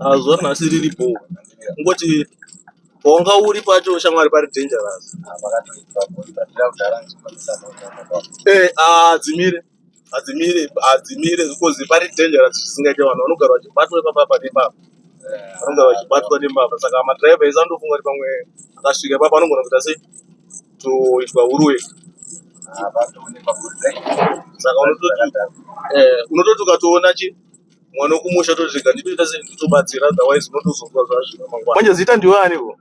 Ah, zuva ranhasi riri bho kungoti pawanga uri pacho shamwari pari dangerous Eh, ah, hadzimire hadzimire hadzimire because pari dangerous zvisingaite vanhu vanogara vachibatwa ipapa apa nepapa vanogara vachibatwa nembavha saka madriver ese anotofunga kuti pamwe akasvika ipapa anogona kuita sei toitwa huruwe saka unototi eh, unototi ukatoona chi mwana wekumusha totega nditoita sei nditobatsira otherwise unotozonzwa zvazvino mangwana manje zita ndiwe aniko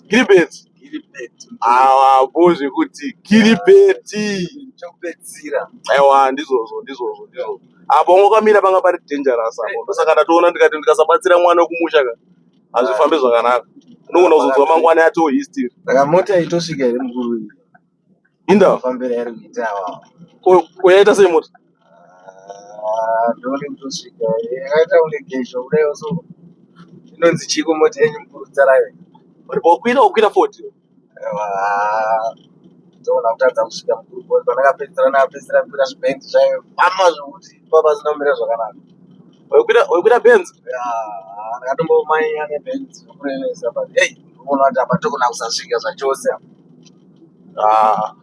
kiribeti awabo zvekuti kiribeti chokupedzisira aiwa ndizvozvo ndizvozvo ndizvozvo apo ungokamira panga pari dangerous apo ndosaka ndatoona ndikati ndikasabatsira mwana wekumusha ka hazvifambe zvakanaka unogona kuzonzwa mangwana yatoo history saka mota itosvika here mukuru iyi Inda. Fambira iri kuita awa. Ko koyaita sei mota? Ah, ndone kutosvika. Yakaita kunge gezho kudai so. Inonzi chiko mota yenyu mkurudza rayo. Uri bokwira okwira 40. Ewa. Ndona kutadza kusvika mkuru boy pandakapedzera nakapedzera kukwira zvibendi zvayo. Mama zvokuti baba zinomira zvakanaka. Okwira okwira benzo. Ah, ndakatombomanya nebendi zvokurevesa but hey, unoona kuti apa tokona kusasvika zvachose. Ah,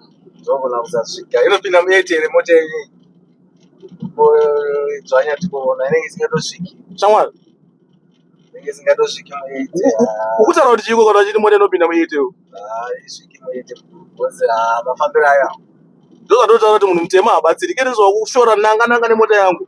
ndogona kusasvika inopinda muyeti here mota yenyu dzvanya tikuona inenge isingatosviki shamwari inenge isingatosviki muyeti ukutaura kuti chiko kana chiti mota inopinda muyeti yo isviki muyeti bhozi mafambiro ayo ndozvatotaura kuti munhu mutema habatsirike ndizvakushora nanga nanga nemota yangu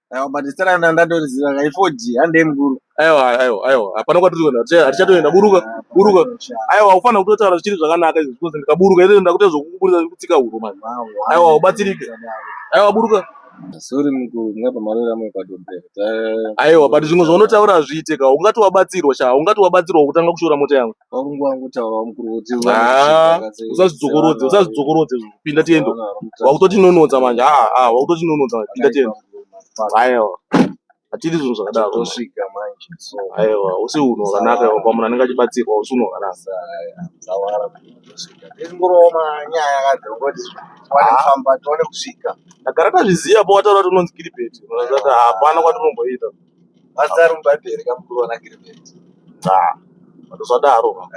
Aiwa but zita ranga ndatoliziva ka i4G handei mukuru. Aiwa aiwa aiwa hapana kwatiri kuenda haticha- hatichatoenda buruka buruka. Aiwa ufana kutotaura zvichiri zvakanaka izvi because ndikaburuka ine ndakuita zvokukuburitsa kutsika huro manje. Aiwa ubatsirike. Aiwa buruka. Sorry mukuru mungapa marori amwe padobbe. Ta- Aiwa but zvimwe zvaunotaura hazviite ka ungati wabatsirwa sha ungati wabatsirwa kutanga kushora mota yangu. Ah, usazvidzokorodze usazvidzokorodze pinda tiende wakutotinonodza manje aa ah, ah, wakutotinonodza manje pinda tiende aiwa hatidi zvinhu zvakadaro aiwa usi unhu hwakanaka iwa pamunhu anenge achibatsirwa usi unhu hwakanaka ndagara tazviziva pawataura kuti unonzi kiribeti hapana kwatinomboita Mazaro mubhaibheri kamukuru vanagirivheti. Nxa, ndozvadaro.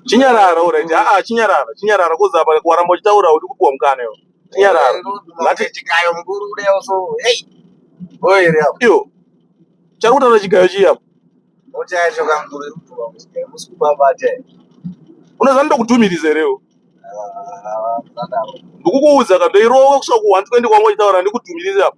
Chinyarara, alright. Haa, chinyarara, chinyarara, kozi apa waramba uchitaura uri kupiwa mukana iwo. Chinyarara. Ngati chikayo mukuru udewo so. Hey. Oye ri apo. Iyo. Chari kutaura chigayo chiya. Ocha yacho kamukuru iri kupiwa muchigayo. Musi kubabata. Unoziva ndokutumiriza here iwo. Ndikukuudza ka ndoirowa kusvika ku 120 kwangu uchitaura ndikutumiriza apa.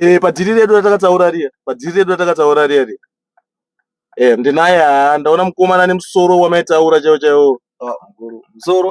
Eh, padhiri redu ratakataura riya padhiri redu ratakataura riya riya eh, ndinaye haa ndaona mukomana nemusoro wamaitaura chaiwo chaiwo Ah, mukuru musoro